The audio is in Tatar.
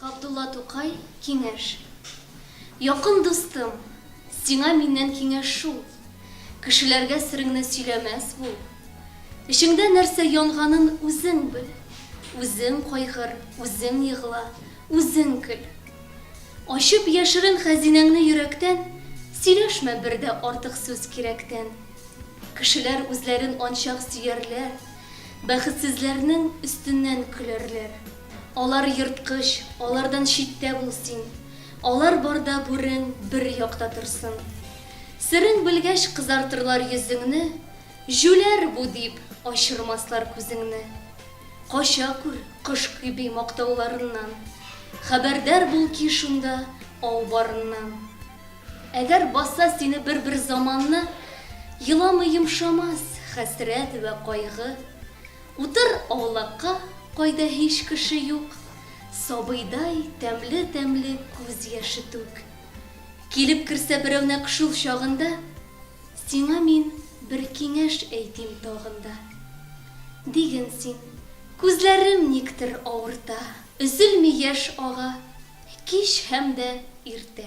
Габдулла Тукай, Киңәш. Якын дустым, сиңа миннән киңәш шул, кешеләргә сереңне сөйләмәс бул. Эчеңдә нәрсә янганын үзең бел, үзең кайгыр, үзең егла, үзең көл. Ачып яшерен хәзинәңне йөрәктән, сөйләшмә бер дә артык сүз кирәктән. Кешеләр үзләрен анчак сөярләр, бәхетсезләрнең өстеннән көләрләр. Алар ерткыч, алардан читтә бул син. Алар барда бүрең бер якта торсын. Серең белгәч кызартырлар йөзеңне, Җүләр бу дип ачырмаслар күзеңне. Кача күр, кош кеби мактауларыннан, Хәбәрдар бул ки шунда ау барыннан. Әгәр баса сине бер-бер заманны, Еламый йомшамас хәсрәт вә кайгы. Утыр аулакка, кайда һич кеше юк, Сабыйдай тәмле-тәмле күз яше түк. Килеп керсә берәү нәкъ шул чагында, Сиңа мин бер киңәш әйтим тагын да. Диген син, Күзләрем никтер авырта. Өзелми яшь ага кич һәм дә иртә.